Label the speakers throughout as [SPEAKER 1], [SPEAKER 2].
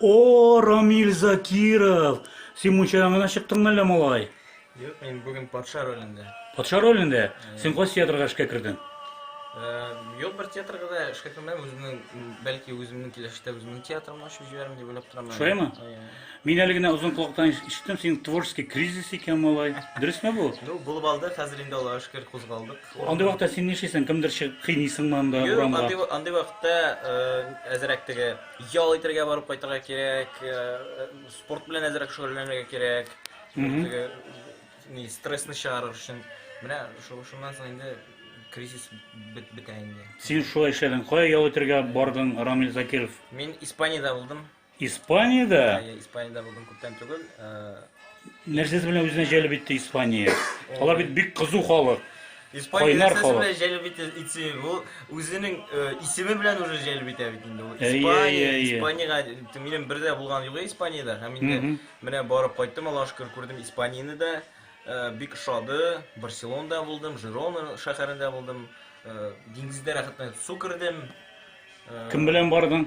[SPEAKER 1] О, Рамиль Закиров! Син мунчадан гына чыктыңмы әллә, малай? Юк, мин бүген
[SPEAKER 2] патша ролендә. Патша ролендә?
[SPEAKER 1] Син кайсы театрга эшкә кердең?
[SPEAKER 2] Юк, бер театрга да эшкә кермәдем. Үземнең, бәлки, үземнең киләчәктә үземнең театрымны ачып җибәрәм дип уйлап торам. Шулаймы?
[SPEAKER 1] Мин әле генә озын колактан ишеттем, синең творческий кризис икән, малай. Дөресме бу? Ну, булып алды, хәзер
[SPEAKER 2] инде Аллага шөкер кузгалдык. Андый вакытта син
[SPEAKER 1] нишлисең? Кемдер чыгып кыйныйсыңмы анда Юк, урамга? андый, андый вакытта
[SPEAKER 2] э, әзрәк теге ял итәргә барып кайтырга кирәк, э, э, спорт белән әзрәк шөгыльләнергә кирәк. Мгм. Теге, ни, стрессны чыгарыр өчен. Менә шу- шуннан соң инде кризис бет- бетә инде. Син шулай эшләдең.
[SPEAKER 1] Кая ял итәргә бардың, Рамил Закиров? Мин Испаниядә
[SPEAKER 2] булдым. Испаниядә?
[SPEAKER 1] Ә, Испаниядә булдым
[SPEAKER 2] күптән түгел. Э,
[SPEAKER 1] Нәрсәсе белән үзенә җәлеп итте Испания? Алар бит бик кызу халык. Испания нәрсәсе
[SPEAKER 2] халык. белән җәлеп итә итсе, ул үзенең э, исеме белән уже җәлеп итә бит инде. Ул Испания, Испаниягә минем бер дә булган юк Испаниядә. Һәм инде менә барып кайттым, Аллаһ шөкер, күрдем Испанияне дә. Э, бик ошады. Барселонада булдым, Жирона шәһәрендә булдым. Э, диңгездә рәхәтләнеп су кердем. Кем
[SPEAKER 1] белән бардың?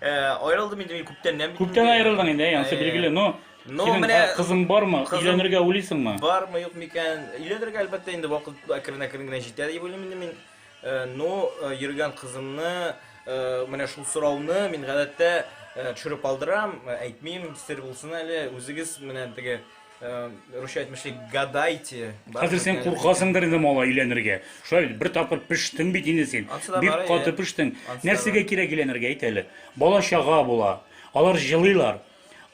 [SPEAKER 2] Э, Аерылдым инде мин күптәннән бит. Күптән инде. аерылдың инде, ә,
[SPEAKER 1] анысы Э, билгеле. Но Ну, синең менә- а, кызың бармы? кызым- Өйләнергә уйлыйсыңмы? Бармы, юк микән?
[SPEAKER 2] Өйләнергә әлбәттә инде вакыт әкрен-әкрен генә җитә дип уйлыйм инде мин. Э, Ну, э, йөргән кызымны, э, менә шул сорауны мин гадәттә э, төшереп алдырам, э, әйтмим, сер булсын әле. Үзегез менә теге русча әйтмешли гадайте хәзер сен
[SPEAKER 1] куркасыңдыр инде малай өйләнергә шулай бит бер тапкыр пештең бит инде син бик каты пештең нәрсәгә кирәк өйләнергә әйт әле бала чага була алар җылыйлар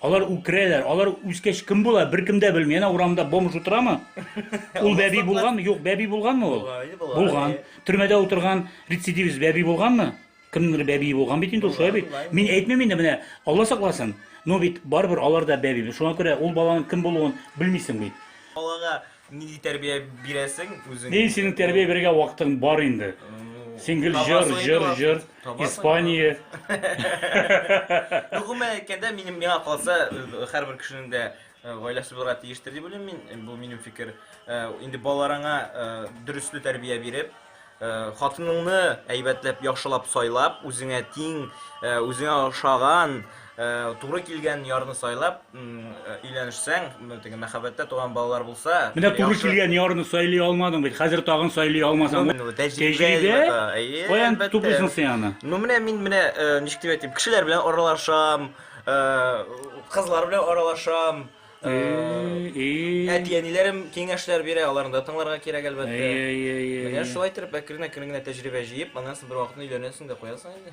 [SPEAKER 1] алар үкерәләр алар үскәч кем була беркем дә белми әнә урамда бомж утырамы ул бәби булган юк бәби булганмы ул булган төрмәдә утырган рецидивист бәби булганмы Кемнеңдер бәбие булган бит инде ул, шулай бит? Мин әйтмим инде, менә, Алла сакласын. Но бит барыбер алар да бәби. Шуңа күрә ул баланың кем булуын белмисең бит. Балага
[SPEAKER 2] нинди тәрбия бирәсең үзең? Ни, синең тәрбия бирергә
[SPEAKER 1] вакытың бар инде. Син гел җыр, җыр, җыр, Испания.
[SPEAKER 2] Ну, гомумән әйткәндә, минем миңа калса, һәрбер кешенең дә гаиләсе булырга тиештер дип уйлыйм мин. Бу минем фикер. Инде балаларыңа дөресле тәрбия биреп, Хатыныңны әйбәтләп, яхшылап сайлап, үзеңә тиң, үзеңә ошаган, туры килгән ярны сайлап өйләнешсәң, теге мәхәббәттә туган балалар булса, Менә туры килгән ярны
[SPEAKER 1] сайлый алмадың бит, хәзер тагын сайлый алмасаң, тәҗрибә, каян туплыйсың син аны? Ну менә мин менә
[SPEAKER 2] ничек дип әйтим, кешеләр белән аралашам, кызлар белән аралашам. Әти-әниләрем киңәшләр бирә, аларны да тыңларга кирәк, әлбәттә. Менә шулай итеп, әкрен-әкрен генә тәҗрибә җыеп, аннан соң бервакытны өйләнәсең дә куясың инде.